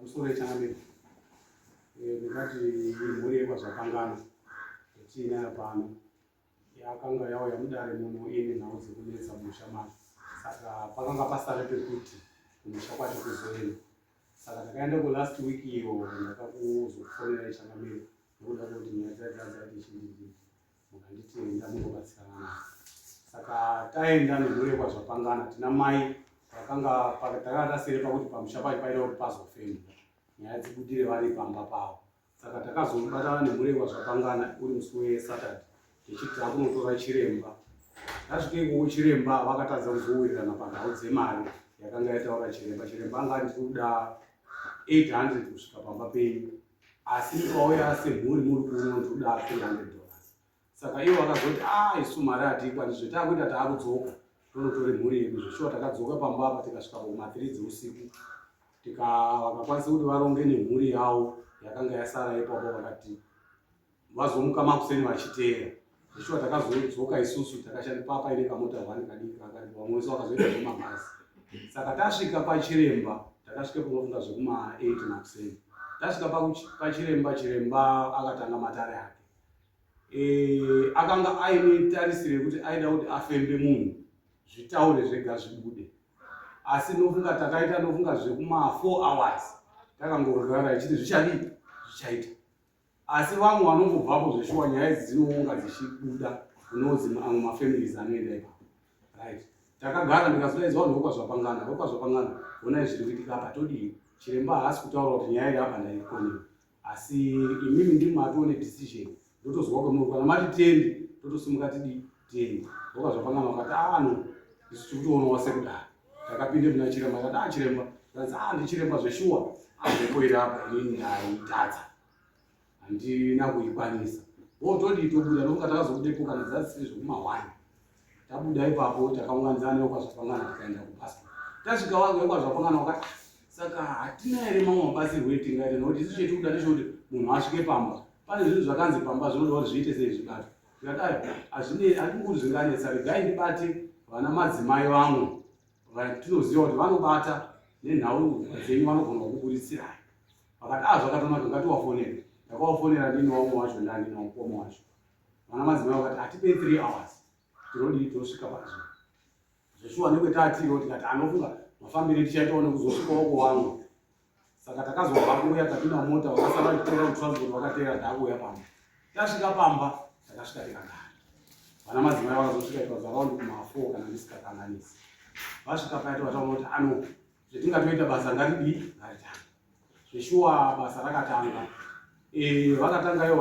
Musoro yechangamire eh, ndingati imhuri yekwazvakangana yatiinayo pano yakanga yauya mudare muno ine nhau dzekunetsa musha macho saka pakanga pasare pekuti kumusha kwacho kuzoenda saka ndakaenda kulast week iyo ndakakuzokufonera ichangamire nekuda kwekuti nyaya dzaidzazaiti chindii Mukanditi enda mungobatsirana naye. Saka taenda nemhuri yekwazvapangana tina mai vakanga takanga tasere pakuti pamusha pacho paida kuti pazofemwa nyaya dzibudire vari pamba pavo. Saka takazobatana nemhuri yekwazvapangana uri musi weSaturday tichiti takunotora chiremba. Tasvike ikoko chiremba vakatadza kuzowirirana panhau dzemari yakanga yataura chiremba. Chiremba anga ati tiri kuda 800 kusvika pamba penyu. asi ndikauya asemhuri muri kuno ndikuda 300 dollars saka ivo vakazoti a ah, isu mari hatiikwani zve taakuita taakudzoka tonotore mhuri yedu zveshuwa takadzoka pamba apa tikasvika pakuma 3 dzeusiku tika vakakwanisa kuti varonge nemhuri yavo yakanga yasara ipapo vakati vazomuka makuseni vachiteera zvishuwa takazodzoka isusu takashanda papa ine kamota one kadiki kakari vamwe wese wakazoita zvemabhazi saka tasvika pachiremba takasvika panofunga zvekuma 8 makuseni tasvika pachiremba chiremba akatanga matare ake e, akanga aine tarisiro yekuti aida kuti afembe munhu zvitaure zvega zvibude asi nofunga takaita nofunga zvekuma 4 hours takangorara ichiti zvichadii zvichaita asi vamwe vanongobvapo zveshuwa nyaya idzi dzinounga dzichibuda kunozi amwe mafamilies anoenda ipapo right takagara ndikazodaidzwa vanhu vokwazvapangana vokwazvapangana vonai zviri kuitika apa todii chiremba haasi kutaura kuti nyaya iri apa ndaikonera asi imimi ndiri matone decision ndotozwa kwemuri kana mati tende totosimuka tidii Teni, wakazvapangana wakati ano ah, isu tikutoona wasekudai. Takapinde muna chiremba akati ah chiremba, zvanzi ah ndichiremba zveshuwa. Ambepo iri apa inini ndaitadza. Handina kuikwanisa. Wotodii tobuda nokuti takazobudepo kana dzasiri zvekumahwani. Tabuda ipapo takaunganidzana nekwazvapangana tikaenda kubasa. Tasvika wangu wekwazvapangana wakati ah, saka hatina here mamwe mabatsirwo etingaita nokuti isu chetikuda ndechekuti munhu asvike pamba. Pane zvinhu zvakanzi pamba zvinoda kuti zviite sei zvibatwa. Ndakadaro, hazvinei, handikuri zvinganetsa, regai ndibate vana madzimai vamwe vatinoziva kuti vanobata nenhau dzenyu vanogona kukuburitsirayo vakati a ah, zvakatonaka ngatiwafonera ndakawafonera ndini wamwe wacho ndanina mukoma wacho vana madzimai vakati hatipei three hours tinodii tinosvika pazvo zveshuwa nekwetaatiriwo tikati anofunga mafambiro etichaitawo nekuzosvika woko wangu saka takazobva kuuya tapinda mumota wakasara achiteera kutransport wakateera taakuuya pamba tasvika pamba takasvika tikagara vana madzimai vakazosvika ikazaround kumafo kana ndisikakanganisi vasvika paya tovataona kuti ano zvetingatoita basa ngaridii ngaritanga zveshuwa basa rakatanga eh, vakatanga iyo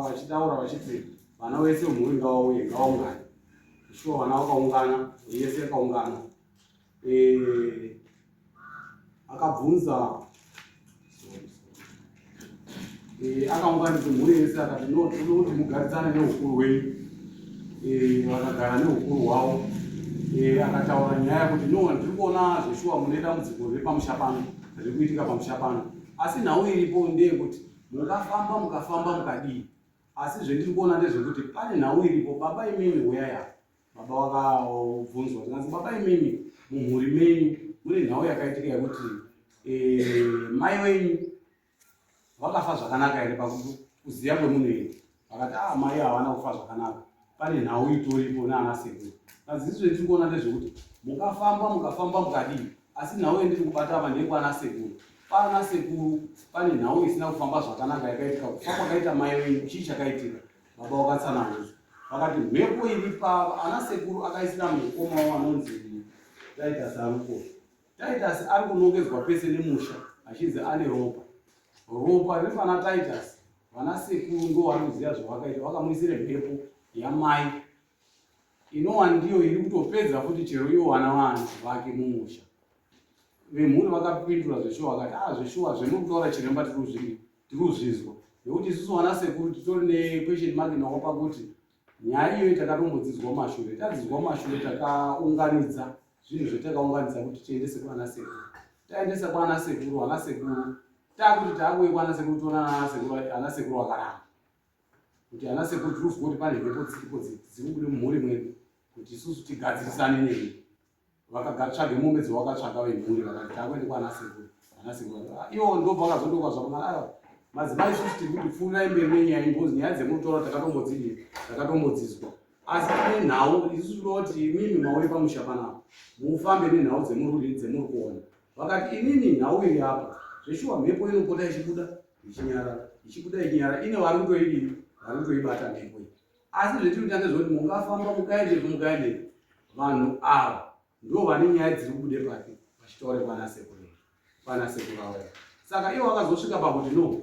vachitaura vachiti vana wese mhuri ngawauye ngawaungana zveshuwa vana vakaungana yese yakaungana eh, akabvunza Eh, akaunganidza mhuri yese akati no tinoda kuti mugarisane neukuru hwenyu eh, vakagara neukuru hwavo eh, akataura nyaya kuti no ndiri kuona zveshuwa mune dambudziko repamusha pano riri kuitika pamusha pano asi nhau iripo ndeyekuti mukafamba mukafamba mukadii asi zvendiri kuona ndezvekuti pane nhau iripo baba imimi huyai apa baba vakabvunzwa tikanzi baba imimi mumhuri menyu mune nhau yakaitika yekuti eh, mai wenyu vakafa zvakanaka here pakuziva kwemunhu here vakati a ah, mai havana kufa zvakanaka pane nhau itoripo naana sekuru kazizve tiri kuona ndezvekuti mukafamba mukafamba mukadii asi nhau yendiri kubata apa ndeyekwana sekuru kwana sekuru pane nhau isina kufamba zvakanaka yakaitika kufa kwakaita mai wenyu chii chakaitika Baba wakatsananguza vakati mhepo iri pava ana sekuru akaisira mukoma wavo anonzi Titus Aruko. Titus ari kunongedzwa pese nemusha achinzi ane ropa. Ropa riri pana Titus vana sekuru ndo vari kuziva zvavakaita vakamuisira mhepo yamai inowa ndiyo iri kutopedza futi chero iwo vana vaanzi vake mumusha vemhuri vakapindura zveshuwa vakati a ah, zveshuwa zvemuri kutaura chiremba tiri kuzvinzwa nekuti isusu vana sekuru titori nequestion mark nawo pakuti nyaya iyoyi takatombodzidzwa mashure tadzidzwa mashure takaunganidza zvinhu zvetakaunganidza kuti tiendese kwana sekuru taendesa kwana sekuru ana sekuru takuti taakuye kwana sekuru toona ana sekuru akaramba kuti ana sekuru tiri kuziva kuti pane mhepo dziripo dziri kubuda mumhuri mwedu kuti isusu tigadzirisane neni vakatsvage mombe dzawakatsvaga vemhuri vakati takuende kwana sekuru ana sekuru ah, iwo ndobva vakazondoka zvakunaa ah, madzimai isusu tiri kuti pfuurai mberi nenyaya ingozi nyaya dzemutora takatombodzidii takatombodzizwa asi tine nhau isusu tinoda kuti imimi mauye pamusha panapa mufambe nenhau dzemururi dzemuri kuona vakati imimi nhau iri apa zveshuwa mhepo inopota ichibuda ichinyara ichibuda ichinyara ine wari kutoidii wari kutoibata mhepo iyi asi zvetiri kutange zvekuti mungafamba mukaendepi mukaendepi vanhu ava ndo vane nyaya dziri kubude pake vachitaure kwana sekuru kwana sekuru avo saka ivo vakazosvika pakuti no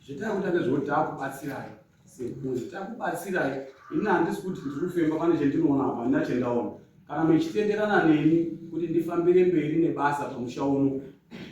zvetari kutange zvekuti taakubatsirayo Sekunzi takubatsirai ini handisi kuti ndiri kufemba pane chendinoona apa handina chendaona kana mechitenderana neni kuti ndifambire mberi nebasa pamusha uno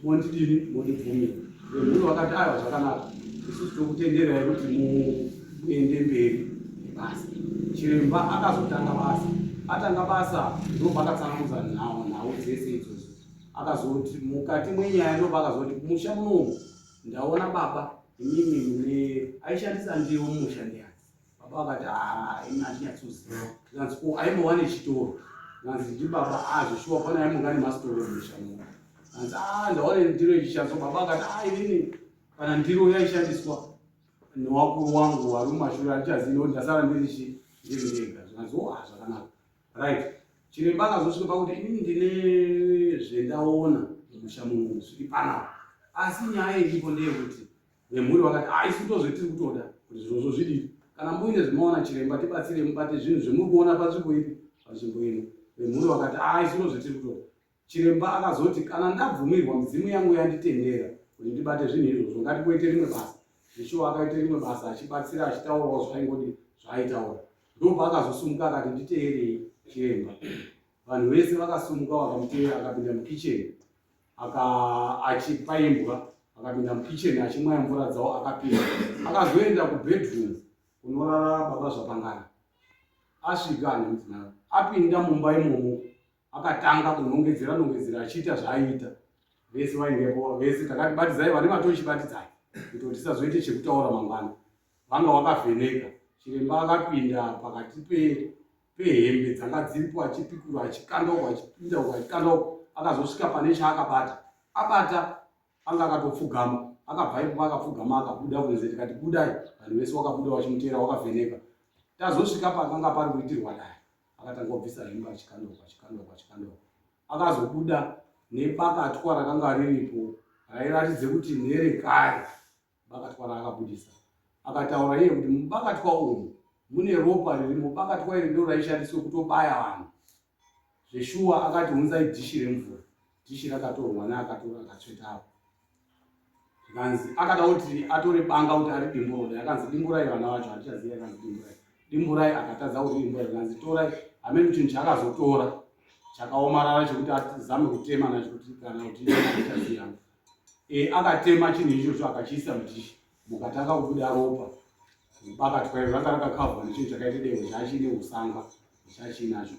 mondidini mondibvumira vemhuri vakati aiwa zvakanaka isusu tokutenderai kuti muende mberi nebasa chiremba akazotanga basa atanga basa ndopakatsanangudza nhau nhau dzese idzodzo akazoti mukati mwenyaya ndopakazoti musha munomu ndaona baba imimi mune aishandisa ndiwo mumusha ndiyani baba vakati haa imi andinyatsoziva zvanzi ko aimbowa nechitoro zvanzi ndibaba azvishuwa ah, pana aimonga nemasitoro emusha mu zvanzi aa ah, ndaona ndiro ichishandiswa baba vakati haa ah, inini kana ndiro yaishandiswa newakuru wangu vari mumashure andichaziva nekuti ndasara ndirichi ndiri ndega zvanzi o oh, a zvakanaka right chiremba akazosvika pakuti inini ndine zvendaona mumusha muno zviri panapa asi nyaya iripo ndeyekuti vemhuri vakati a ah, isu ndozve tiri kutoda kuti zvirozvo zvidii kana muine zvemaona chiremba tibatsire mubate zvinhu zvemuri kuona panzvimbo ipi panzvimbo ino vemhuri vakati a ah, isu ndozve tiri kutoda Chiremba akazoti, Kana ndabvumirwa, midzimu yangu yanditendera kuti ndibate zvinhu izvozvo, ngatimboite rimwe basa. Zveshuwa akaita rimwe basa achibatsira achitaurawo zvaingodi zvaaitaura. Ndobva akazosumuka akati, Nditeerei chiremba. Vanhu vese vakasumuka vakamuteera akapinda mukicheni achipa imbwa akapinda mukicheni achimwaya mvura dzawo akapinda akazoenda kubedroom kunorara baba zvapangana asvika nemudzimai apinda mumba imomo Akatanga kunongedzera nongedzera achiita zvaaiita vese vaingepo vese takati batidzai vane matochi batidzai kuti tisazoite chekutaura mangwana vanga wakavheneka chiremba akapinda pakati pehembe pe dzanga dziripo achipikura achikanda uko achipinda uko achikanda uko akazosvika pane chaakabata abata anga akatopfugama akabva ipopa akapfugama akabuda kunze tikati budai vanhu vese wakabuda wachimuteera wakavheneka tazosvika pakanga pari kuitirwa dai akatanga kubvisa hembe achikandauka achikandauka achikandauka akazobuda nebakatwa rakanga riripo rairatidze kuti nerekare bakatwa raakabudisa akataura iye kuti mubakatwa umu mune ropa riri mubakatwa iri ndo raishandiswe kutobaya vanhu zveshuwa akati unzai dhishi remvura dhishi rakatorwa neakatora akatsveta apo zvikanzi akada kuti atore banga kuti ari dimburai akanzi dimburai vana vacho handichaziva akanzi dimburai dimburai akatadza kuti dimburai akanzi torai hameno chinhu chaakazotora chakaomarara chekuti azame kutema nacho kuti kana kuti achaziva e, akatema chinhu ichocho akachiisa mudhishi mukatanga kubuda ropa bakatwa iro ranga rakakavhwa nechinhu chakaita dehwe chachine usanga chachinacho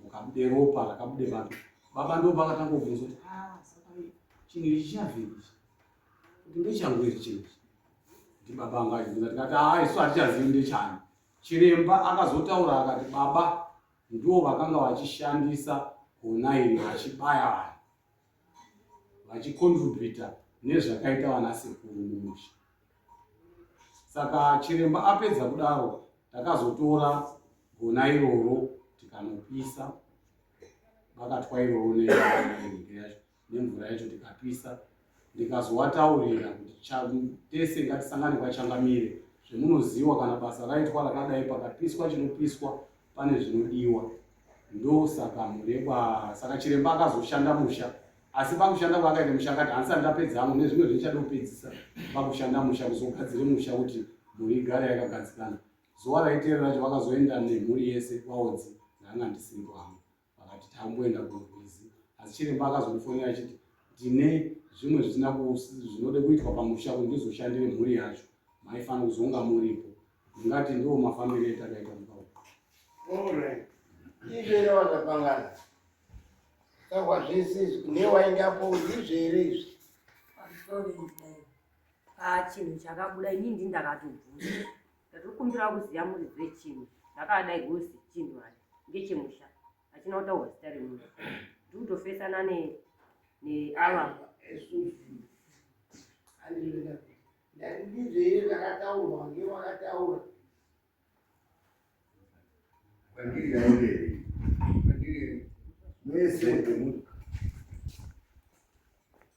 mukabude ropa rakabude baba baba ndo bakatanga kubvunza kuti ah, chinhu ichi chavei kuti ndechangu iri chinhu ichi kuti baba anga achibvunza tikati haa ah, isu hatichazivi ndechani chiremba akazotaura akati baba ndiwo vakanga vachishandisa gona iri vachibaya vanhu vachicontributa nezvakaita vana sekuru mumusha saka chiremba apedza kudaro takazotora gona iroro tikanopisa vakatwa iroro nemvura yacho tikapisa ndikazowataurira kuti tese ngatisangane kwachangamire zvemunoziwa kana basa raitwa rakadai pakapiswa chinopiswa pane zvinodiwa ndosaka murekwa saka chiremba akazoshanda musha asi pakushanda kwaakaita musha akati handisati ndapedza hangu nezvimwe zvindichada kupedzisa pakushanda musha kuzogadzire musha kuti mhuri igare yakagadzikana zuva raiteera racho vakazoenda nemhuri yese kwaodzi ndanga ndisiripo hangu vakati tamboenda kunorwizi asi chiremba akazondifonera achiti ndine zvimwe zvisina zvinode kuitwa pamusha kuti ndizoshandire mhuri yacho maifanira kuzonga muripo ndingati ndiwo mafambiro etakaita mukau ivere vakapangana kahwa zvese izvi newainge apo ndizvo here izvi ah, chinhu chakabuda inini ndindakatobvunza Ndatikumbira kuziva muridzi wechinhu ndakadai gosi chinhu hati ngechemusha achina kutaurwa zita remunhu ndikutofesana neava ndandizvei zvakataurwa ngewakataura kwandiri yairei kwandiri mwese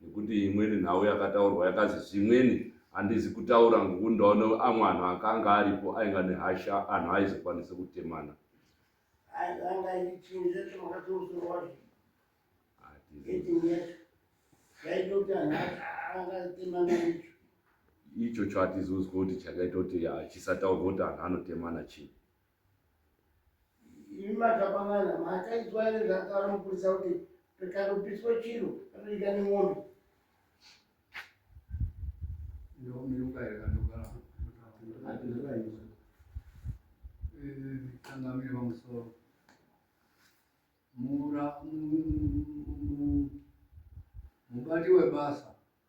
nekuti imweni nhau yakataurwa yakazi zvimweni handizi kutaura ngokuti ndaona amwe anhu akanga aripo ainga nehasha anhu aizokwanisa kutemana icho cho hatizozwa kuti chakaita kuti chisataurwa kuti anhu anotemana chii imi makapangana makaitwa ere zvakaro mupurisa kuti pikanopiswa chiro anoita nemombe kangamire pamusoro mubati webasa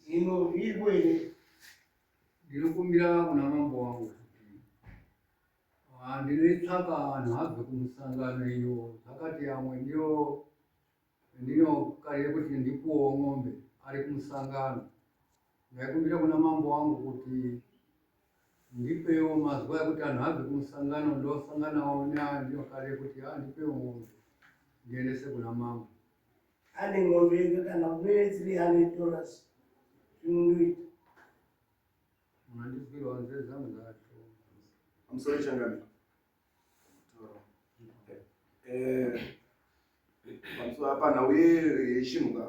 Zvino ndiko ini ndinokumbira kuna mambo wangu kuti ah, ndinoitsvaka vanhu abve kumusangano iyo zvakati amwe ndiyo ndinokarire kuti ndikuwo ng'ombe ari kumusangano ndaikumbira kuna mambo wangu kuti ndipewo mazuva ekuti anhu abve kumusangano ndosanganawo neandinokarire kuti andipewo ah, ng'ombe ndiendese kuna mambo ane ng'ombe yega kana kumene 300 dollars zvinondoita mandiswira wanze zamu zacho amusori changani pamusoro apa nhau yechinhu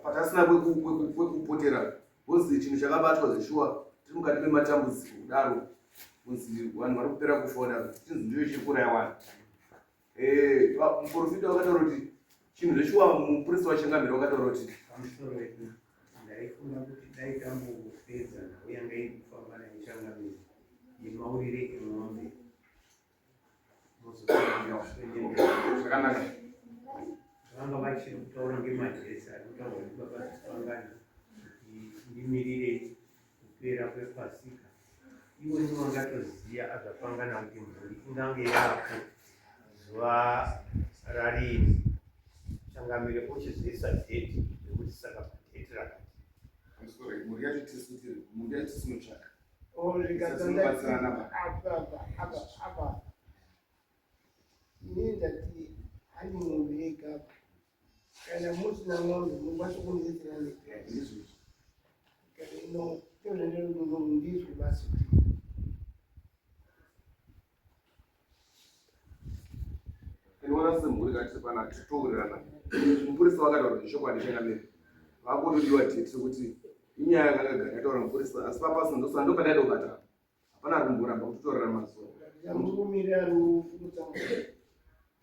patasina kwekupotera kunzi chinhu chakabatwa zveshuwa tiri mukati mematambudziko kudaro kunzi vanhu vari kupera kufona chinzi ndiyo chiri kuraya vanhu Eh, muprofita wakataura kuti chinhu zveshuwa mupurisa wachangamira wakataura kuti ndaifunga kuti dai tambopedza nhau yanga iri kufamba naichangamira yemaurire emombe zvakanaka vanga vachiri kutaura ngemadresi ari kutaura kuti baba zisipangana ndimirire kupera kwepasika iwe ndiwe ungatoziva azvapangana kuti mhuri ingange yako zuva rarini changamire ochizoisa dheti rekuti saka padheti rakati mhuri yacho tisu tiri mhuri yacho tisinotsvaka zvikatsandatsirana apa ini ndati handimuviga kana musina n'ombe mukwanisa kundiitira nezvizvi kana ino tozvenderudo ndizvi basi kuti inoona semhuri kati pana titowirirana mupurisa vakataura zvechokwadi chakamira vakutodiwa tete kuti inyaya yakangagara yataura mupurisa asi papasa ndosandopadaida kubata hapana rumboramba kutotorera mazuva